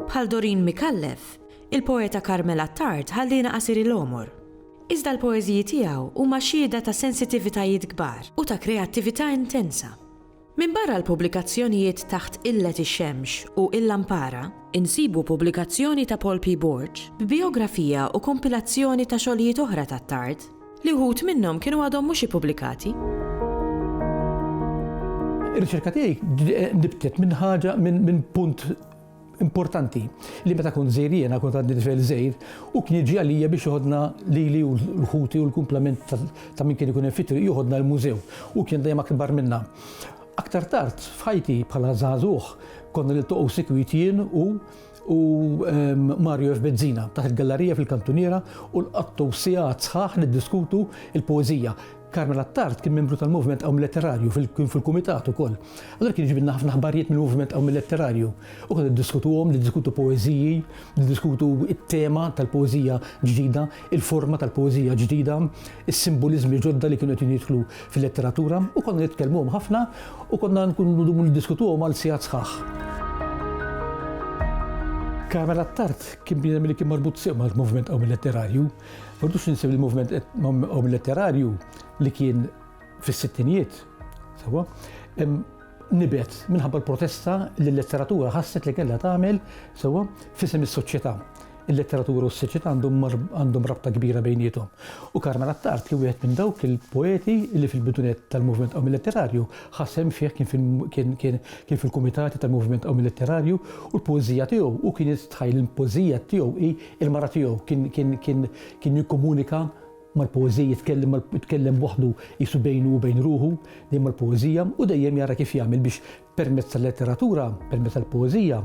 Bħal Doreen Micallef, il-poeta Carmel Attard ħalliena qasir il-għomor. Iżda l-poeżiji tiegħu huma xhieda ta' sensitivitajiet kbar u ta' kreattività intensa. Minbarra l-pubblikazzjonijiet taħt Qillet ix-Xemx u Il-Lampara, insibu pubblikazzjoni ta' Paul P. Borg b'bijografija u kompilazzjoni ta' xogħlijiet oħra t'Attard, li wħud minnhom kienu għadhom mhux ippubblikati. Ir-riċerka tiegħi nibtet minn ħaġa, minn punt Importanti li meta kont żgħir jiena kont għandi tifel żgħir u kien jiġi għalija biex joħodna lili u l-ħuti u l-kumplament ta' min kien ikun hemm fit-triq joħodna l-mużew u kien dejjem akbar minna. Aktar tard f'ħajti bħala żagħżugħ konna niltaqgħu sikwit jien u u ehm, Mario F. Bezzina taħt il-gallarija fil-kantuniera u l-qattu sigħat sħaħ niddiskutu il-poeżija. Carmel Attard kien membru tal-Moviment Qawmi Letterarju, kien fil-Kumitat ukoll. Allura kien iġibilna ħafna aħbarijiet mill-Moviment Qawmi Letterarju. U konna niddiskutuhom, niddiskutu poeżiji, niddiskutu t-tema tal-poeżija ġdida, il-forma tal-poeżija ġdida, is-simboliżmi ġodda li kienu qed jidħlu fil-letteratura, u konna nitkellmuhom ħafna u konna nkunu ndumu niddiskutuhom għal sigħat sħaħ. Carmel Attard kien bniedem li kien marbut sew mal-Moviment Qawmi Letterarju. F'Ordux Ninsew li l-moviment omletterarju li kien fis-sittinijiet, sewwa, nibet minħabba l-protesta li l-letteratura ħasset li kellha tagħmel, sewwa, f'isem is-soċjetà. Il-letteratura u s-soċjetà għandhom rabta kbira bejniethom. U Carmel Attard kien wieħed minn dawk il-poeti li fil-bidunet tal-moviment omletterarju ħa sehem fih kien fil-kumitati tal-moviment omletterarju u l-poeżija tiegħu u kien jistħajjel li l-poeżija tiegħu hi Il-mara tiegħu kien jikkomunika mal-poeżija, jitkellem waħdu qisu bejnu u bejn ruħu, dejjem mal-poeżija, u dejjem jara kif jagħmel biex permezz tal-letteratura, permezz tal-poeżija,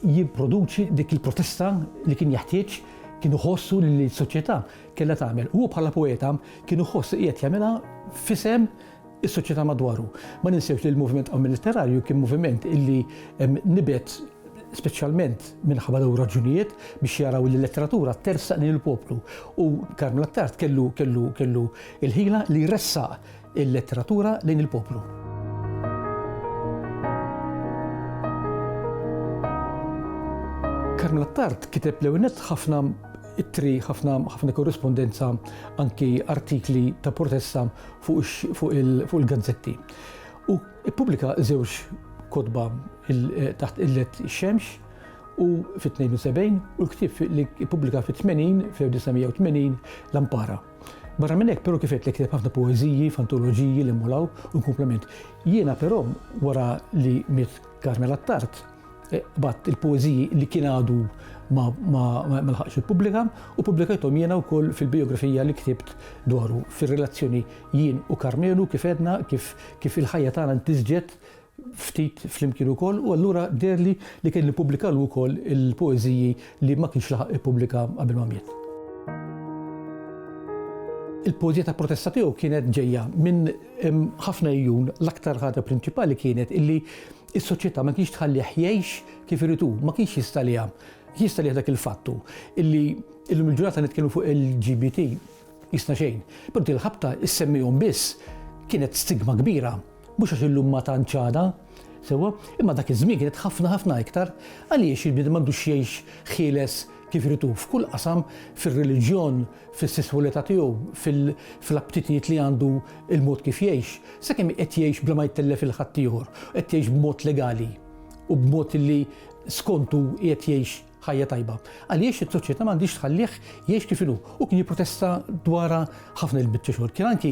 jipproduċi dik il-protesta li kien jeħtieġ, kien iħoss hu li s-soċjetà kellha tagħmel. Hu bħala poeta kien iħoss li qiegħed jagħmilha f'isem is-soċjetà madwaru. Ma ninsewx li l-moviment Ammir Litterarju kien moviment illi nibet speċjalment minħabba dawn raġunijiet biex jaraw li l-letteratura tersaq lil il-poplu. U Karmel Attard kellu kellu kellu il-ħila li jressaq il-letteratura lejn il-poplu. Karmel Attard kiteb l ħafna ittri ħafna ħafna korrispondenza anki artikli ta' protesta fuq il-gazzetti. U ppubblika żewġ kotba taħt qillet ix-xemx u fit-72 u l-ktieb li ppubblika fit-80 fl-1980 Lampara. Barra minn hekk però kif qed kiteb ħafna poeżiji f'antoloġiji li mmolaw u l-kumplament. Jiena però wara li miet Carmela Attard, Qbadt il-poeżiji li kien għadu ma lħaqx ippubblika u ppubblikajthom jiena wkoll fil-bijografija li ktibt dwaru fir-relazzjoni jien u Karmenu kif għedna kif il-ħajja tagħna ntisġet ftit flimkien ukoll u allura deherli li kelli nippubblikalu wkoll il-poeżiji li ma kienx laħaq ippubblika qabel ma miet. Il-poeżija ta' protesta tiegħu kienet ġejja minn ħafna għejun l-aktar ħaġa prinċipali kienet illi Is-soċjetà ma kienx tħallih jgħix kif irid hu, ma kienx jistaliha. Jistaliha dak il-fatt hu illi illum il-ġurnata nitkellmu fuq il-LGBT qisna xejn. Però din il-ħabta issemmihom biss kienet stigma kbira. Mhux għax illum ma tantx għadha, sewwa, imma dak iż-żmien kienet ħafna ħafna iktar. Għaliex il-bniedem m'għandux jgħix ħieles kif irid hu f'kull qasam, fir-reliġjon, fis-sesswalità tiegħu, fl-aptitjiet li għandu, il-mod kif jgħix, sakemm qed jgħix bla ma jtellef lil ħaddieħor, qed jgħix b'mod legali u b'mod li skontu qiegħed jgħix ħajja tajba. Għaliex is-soċjetà ma għandhiex tħallih jgħix kif inhu. Hu kien jipprotesta dwarha ħafna il-biċċa xogħol. Kien anki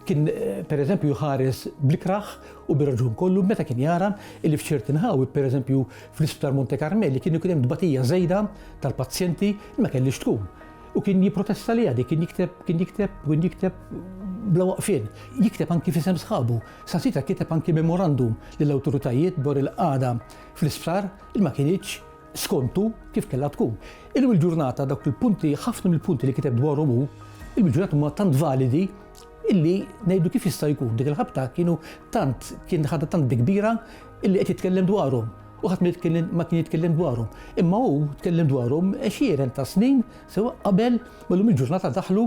Kien, per eżempju, jħares bl-ikrah u bir-raġun kollu meta kien jara li f'ċerti nħawi, per eżempju, fl-Isptar Monte Karmeli kien ikun hemm tbatija żejda tal-pazjenti li ma kellix tkun. U kien jipprotesta li għadi, kien jikteb, kien jikteb, kien jikteb bla waqfien. Jikteb anki fisem sħabu. Sasita kiteb anki memorandum lill-awtoritajiet dwar il-qagħda fl-isptar il ma kienitx skont hu, kif kellha tkun. Illum il-ġurnata dawk il-punti, ħafna mill-punti li kiteb dwarhom hu, illum il-ġurnata huma tant validi illi ngħidu kif jista' jkun dik il-ħabta kienu tant kien ħadda tant bi kbira illi qed jitkellem dwarhom u ħadd ma kien jitkellem dwarhom. Imma hu tkellem dwarhom għexieren ta' snin sewa qabel ma llum il-ġurnata daħlu